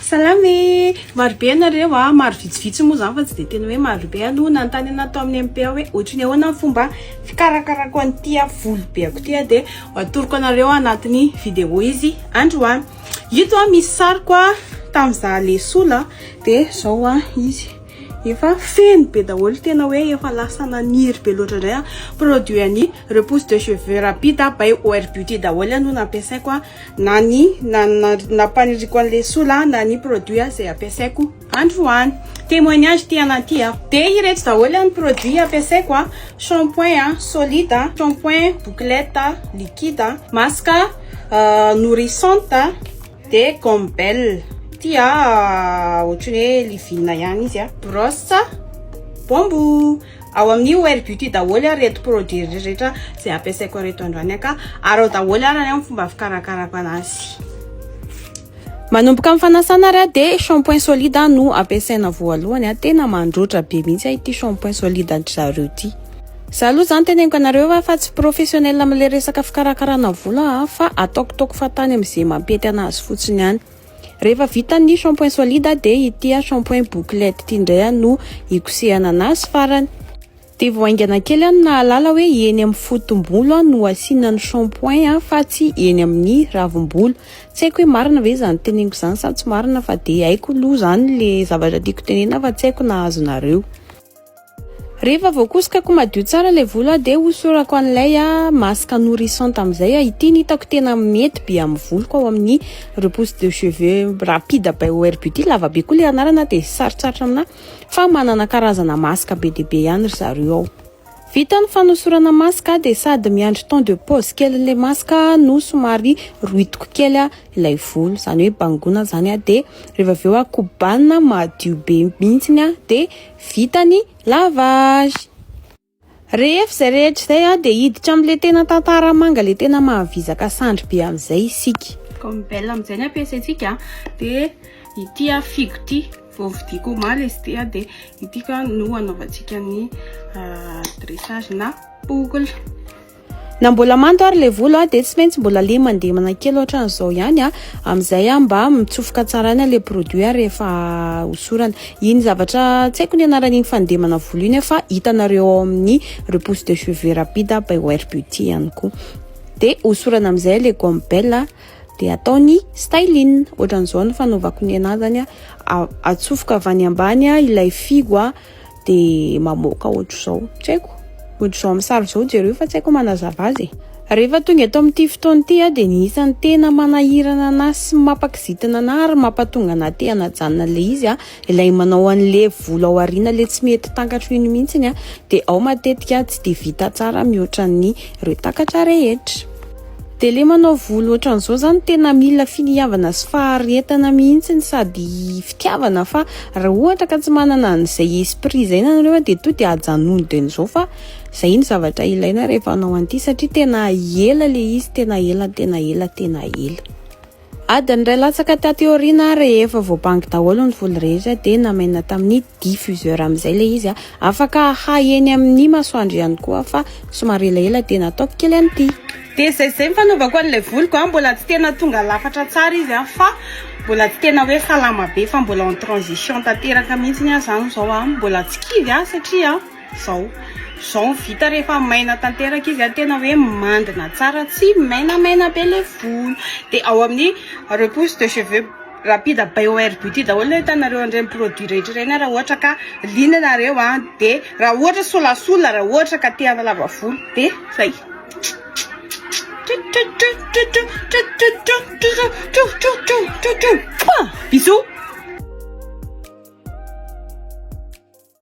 Salama e! Maro be ianareo a, maro vitsivitsy moa izany fa tsy dia tena hoe maro be no nanontany anah tao amin'ny MP hoe ohatry ny ahoana ny fomba fikarakarako an'ity volo beako ity a, dia ho atoroko anareo anatin'ny vidéo izy androany. Ito a misy sariko a tamin'ny izaho le sola dia izao a izy efa feno be daholo tena hoe efa lasa naniry be loatra indray a, produit an'ny repousse de cheveux rapide by OR Beauty daholo no nampiasaiko a. na ny nampaniriako an'i Lesola aho na ny produit izay ampiasaiko androany. Témoignage ity anah ity aho. Dia ireto daholo ny produit ampiasaiko, shampoing solide, shampoing bouclette liquide, masque nourrissante, dia gomme belle ity ohatran'ny hoe livina ihany izy, brosse bambou. Ao amin'ny OL Beauty daholo ary ireto produit rehetra izay ampiasaiko ireto androany ka ary ao daholo ary ny fomba fikarakarako anazy. Manomboka amin'ny fanasana ary dia shampoing solide no ampiasaina voalohany. Tena mandroatra be mihitsy ity shampoing solide an-dry zareo ity. Za aloha zany teneniko anareo fa fa tsy professionnel amle resaka fikarakarana volo aho fa ataoko toako fa tany amizay mampety anazy fotsiny ihany. Rehefa vita ny shampoing solide dia ity shampoing bouclette ity indray no hikosehana anazy farany. Dia vao haingana kely aho no nahalala hoe eny amin'ny fotom-bolo no asiana ny shampoing fa tsy eny amin'ny ravim-bolo. Tsy haiko hoe marina ve izany teneniko izany sa tsy marina fa dia haiko aloha izany ilay zavatra tiako tenena fa tsy haiko na azonareo. Rehefa voakosokako madio tsara ilay volo aho dia hosorako an'ilay masque nourrissante amin'izay aho. Ity no hitako tena mety be amin'ny voloko ao amin'ny repousse de cheveux rapide by OR Beauty. Lava be koa ilay anarana dia sarotsarotra aminà fa manana karazana masque be dia be ihany ry zareo ao. Vita ny fanosorana masque dia sady miandry temps de pause kelin'ilay masque no somary rohitiko kely. ilay volo zany hoe bangona zany a de rehefa avy eo a kobanina madio be mihitsiny a de vita ny lavage rehefa izay rehetra izay a de hiditra amin'le tena tantara manga le tena mahavizaka sandry be amin'izay isika comme belle amin'izay ny ampiasaintsika de ity a figo ity vao vidiako omaly izy ity a de ity ka no anaovantsika ny euh, dressage na boucle Na mbola mando ary le volo dia tsy maintsy mbola le mandemana kely ohatran'izao ihany a. Amin'izay a mba mitsofoka tsara ihany le produit a rehefa hosorana. Iny zavatra tsy haiko ny anaran'iny fandemana volo iny fa hitanareo ao amin'ny repousse de cheveux rapide by Wear Beauty ihany koa. Dia hosorana amin'izay le gomme bell a dia atao ny styling. Ohatran'izao ny fanaovako ny anahy zany a, atsofoka avy any ambany ilay fihogo a. dia mamoaka ohatr'izao. Tsy haiko, ohatr'izao amin'ny sary izao jereo fa tsy haiko manazava azy e. Rehefa tonga eto amin'ity fotoana ity aho dia ny isan'ny tena manahirana anà sy mampakizitina anà ary mampatonga anà te hanajanona an'ilay izy, ilay manao an'ilay volo ao aoriana ilay tsy mety takatro iny mihitsy, dia ao matetika tsy dia vita tsara mihoatra ny ireo takatra rehetra. De le manao volo otran'zao zany tena mila finiavana sy faharetana mihitsiny sady fitiavana fa ra ohatra ka tsy manana an'izay esprit zay nareo de to de ajanony de nizao fa zay ny zavatra ilaina rehefa anao an'ity satria tena ela le izy tena ela tena ela tena ela. Adiny iray latsaka taty aoriana, rehefa voabango daholo ny voly rehetra dia namainina tamin'ny diffuseur amin'izay ilay izy. Afaka ahahy eny amin'ny masoandro ihany koa fa somary elaela dia nataoko kely an'ity. Dia izay izay ny fanaovako an'ilay voliko, mbola tsy tena tonga lafatra tsara izy fa mbola tsy tena hoe salama be fa mbola en transition tanteraka mihitsy aho izany izao, mbola tsy kivy aho satria. Zao zao ny vita rehefa maina tanteraka izy a, tena hoe mandina tsara, tsy mainamaina be le volo. De ao amin'ny repousse de cheveux rapide by OR beauty daholo le hitanareo an'ireny produit rehetra ireny raha ohatra ka liana ianareo a. De raha ohatra solasola raha ohatra ka te hanalava volo de zay. Bisous.